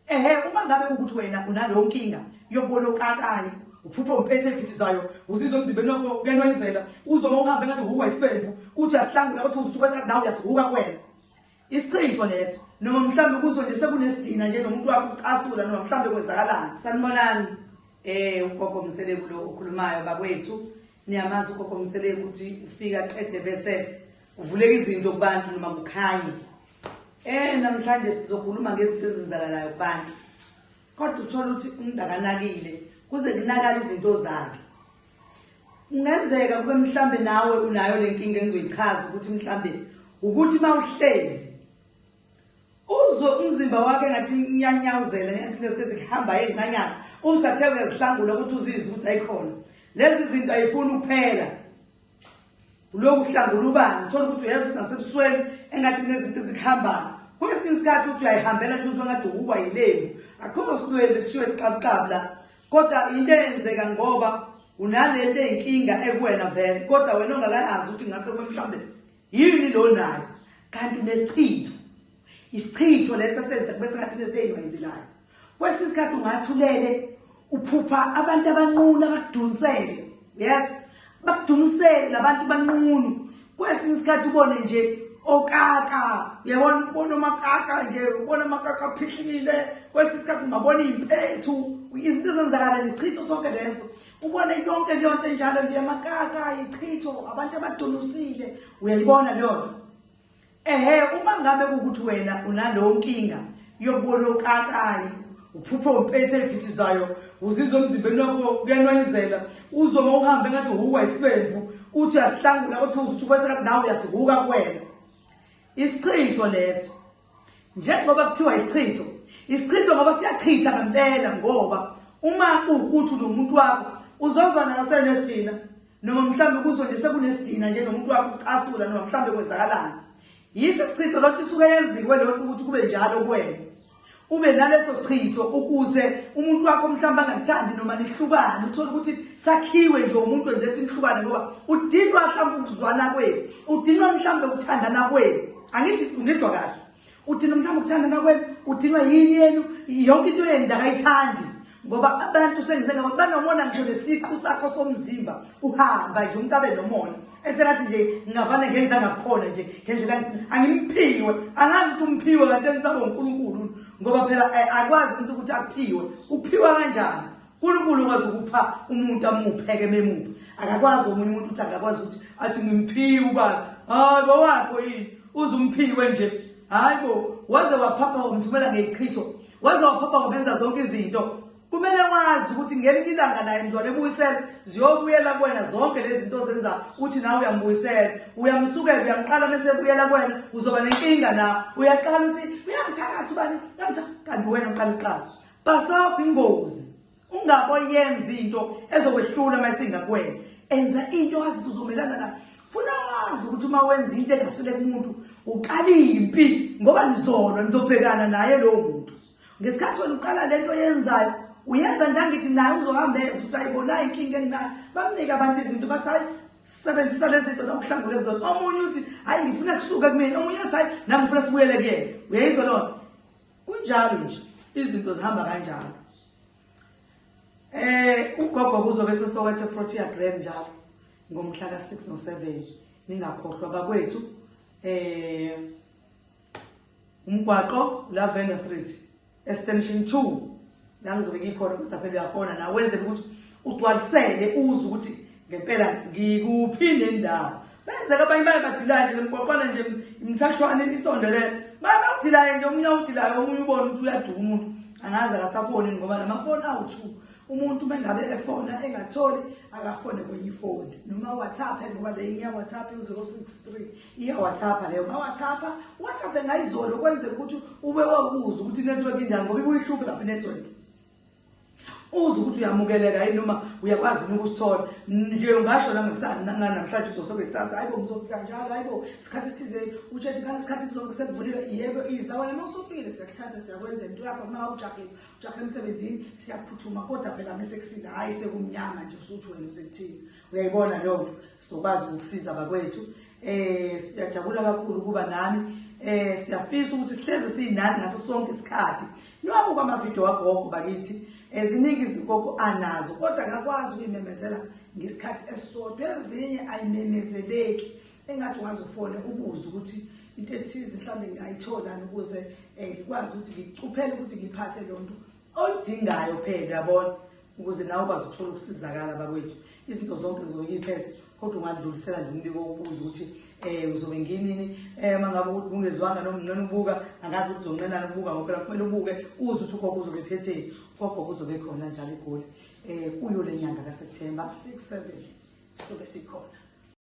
Ehe uma ngabe ukuthi wena unaleyo nkinga yokubona okakanye uphupha umpethe ephithizayo uzizwa emzimbeni wakho kuyanwayizela uzoma uhambe ngathi uhukwa isibembu uthi uyasihlangula kodwa uzuthi kwesa ndawo uyasihuka kuwena isichitho leso noma mhlawumbe kuzo nje sekunesidina nje nomuntu wakho ucasula noma mhlawumbe kwenzakalani sanibonani um ugogo mseleku lo okhulumayo bakwethu niyamazi ugogo msele ukuthi ufika qede bese kuvuleka izinto kubantu noma kukhanye eh namhlanje sizokhuluma ngezinto ezenzakalayo kubantu kodwa uthola ukuthi umuntu akanakile kuze kunakala izinto zakhe kungenzeka kube mhlambe nawe unayo le nkinga engizoyichaza ukuthi mhlambe ukuthi uma uhlezi uzwe umzimba wakhe ngathi unyanyawuzela ngenthi lezi ezihamba ezincanyana umsathe uyazihlangula ukuthi uzizwe ukuthi ayikhona lezi zinto ayifuni ukuphela uloku uhlangula ubani uthola ukuthi uyazi ukuthi nasebusweni engathi kunezinto ezihambayo kwesinye isikhathi ukuthi uyayihambela nje uzwe ngathi uwuwa yilembu akukho silwembu esishiwe liqabuqabu la kodwa into eyenzeka ngoba unalento ey'nkinga ekuwena vele kodwa wena ongakayazi ukuthi ngase kube mhlawumbe yini lo nayo kanti unesichitho isichitho leso senze kube sengathi lezi eziwayizilayo kwesinye isikhathi ungathulele uphupha abantu abanqunu abakudunsele yes bakudunsele labantu banqunu kwesinye isikhathi ubone nje okaka yabona ubona amakaka nje ubona amakaka aphihlile kwesinye isikhathi ungabona impethu izinto ezenzakala nje isichitho sonke leso ubone yonke leyo nto enjalo nje amakaka ichitho abantu abadunusile uyayibona leyo nto ehe uma ngabe ukuthi wena unalowo nkinga yokubona okakayi uphuphe umpethe ephithizayo uzizwa emzimbeni wakho kuyanwayizela uzwe uma uhambe ngathi uhuka isibembu uthi uyasihlangula othi uzuthi kwesekathi nawe uyasihuka kuwena isichitho leso njengoba kuthiwa isichitho isichitho ngoba siyachitha ngempela ngoba uma kuwukuthi nomuntu wakho uzozwa nayo senesidina noma mhlawumbe kuzo nje sekunesidina nje nomuntu wakho ucasula noma mhlawumbe kwenzakalani yisi sichitho lonto isuke yenziwe lonto ukuthi kube njalo kuwena ube naleso sichitho ukuze umuntu wakho mhlawumbe angakuthandi noma nihlukane uthole ukuthi sakhiwe nje umuntu wenze ukuthi nihlukane ngoba udinwa mhlawumbe ukuzwana kwenu udinwa mhlawumbe ukuthandana kwenu angithi ngizwa kahle udinwa mhlawumbe ukuthandana kwenu udinwa yini yenu yonke into yenu nje akayithandi ngoba abantu sengizengabo banomona ngisho nesiqu sakho somzimba uhamba nje umuntu abe nomona enze ngathi nje ngingavane ngenza ngakhona nje ngendlela ngithi angimphiwe angazi ukuthi umphiwe kanti enisabo unkulunkulu ngoba phela eh, akwazi umuntu ukuthi aphiwe uphiwa kanjani uNkulunkulu ukwazi ukupha umuntu amupheke bemuphi akakwazi omunye umuntu ukuthi akakwazi ukuthi athi ngimphiwe ubani hayi bawakho yini uze umphiwe nje hayi bo waze waphapha wamthumela ngeyichitho waze waphapha wabenza zonke izinto kumele wazi ukuthi ngelinye ilanga naye mzwane ebuyisela ziyobuyela kuwena zonke lezi zinto ozenza uthi nawe uyambuyisela uyamsukela uyamqala mese ebuyela kuwena uzoba nenkinga na uyaqala ukuthi uyangithakathi ubani uyangitha kanti wena uqala iqala Bhasobha ingozi ungabo yenza into ezokwehlula uma isingakwena enza into wazi ukuthi uzomelana na funa wazi ukuthi uma wenza into engasile kumuntu uqala impi ngoba nizolwa nizobhekana naye lowo muntu ngesikhathi wena uqala lento yenzayo uyenza ngangithi naye uzohamba eza ukuthi ayibona inkinga enginayo bamnike abantu izinto bathi hayi sebenzisa lezi zinto nokuhlangule kuzona omunye uthi hayi ngifuna kusuka kumina omunye uthi hayi nami ngifuna sibuyele kuyena uyayizwa lona kunjalo nje izinto zihamba kanjalo eh ugogo kuzobe sesowethe protea grand njalo ngomhla ka6 no7 ningakhohlwa bakwethu eh umgwaqo lavender street extension 2 la ngizobe ngikhona kodwa phela uyakhona nawe wenzela ukuthi ugcwalisele uze ukuthi ngempela ngikuphi nendawo benzeka abanye baye badilaye nje lemgwaqwana nje imthashwane isondele baye bawudilaye nje omunye awudilayo omunye ubone ukuthi uyaduka umuntu angazi akasafoni ngoba namafoni awu-two umuntu uma engabe efona engatholi akafone kwenye ifoni noma whatsapp ngoba le inya whatsapp uzero six three iyawathapha leyo ngawathapha wathaphe ngayizolo kwenzeka ukuthi ube wakuza ukuthi inetwork injani ngoba ibuyihluphe lapha inetwork uze ukuthi uyamukeleka yini noma uyakwazi yini ukusithola nje ungasho la namhlanje uzosobe kusasa hayi bo ngizofika njalo hayi bo isikhathi esithize utshethe kani isikhathi kuzokusekuvulile yebo iza wena uma usufikile siyakuthatha siyakwenza into yakho uma ujahile ujahile emsebenzini siyaphuthuma kodwa phela mese kusile hhayi sekumnyama nje usuthi wena uze kuthini uyayibona leyo nto sizokwazi ukusiza bakwethu um eh, siyajabula kakhulu ukuba nani um siyafisa ukuthi sihlezi siyinani ngaso sonke isikhathi niwabuka amavidiyo wagogo bakithi eziningi izinkoko anazo kodwa ngakwazi ukuyimemezela ngesikhathi esisodwa ezinye ayimemezeleki engathi ungaze ufone ubuze ukuthi into ethize mhlawumbe ngingayitholani ukuze um ngikwazi ukuthi ngikucuphele ukuthi ngiphathe lo nto oyidingayo phela yabona ukuze nawe ukwazi ukuthola ukusizakala bakwethu izinto zonke ngizoyiphethe kodwa ungadlulisela nje umbiko wokubuza ukuthi um uzobe nginini um uma ngabe ukuthi bungezwanga noma unqena ukubuka angazi ukuthi uzonqenani ukubuka ngoba phela kumele ubuke uze ukuthi ugogo uzobe phetheni ugogo uzobe khona njalo igoli um kuyo le nyanga kaseptemba six seven sobe sikhona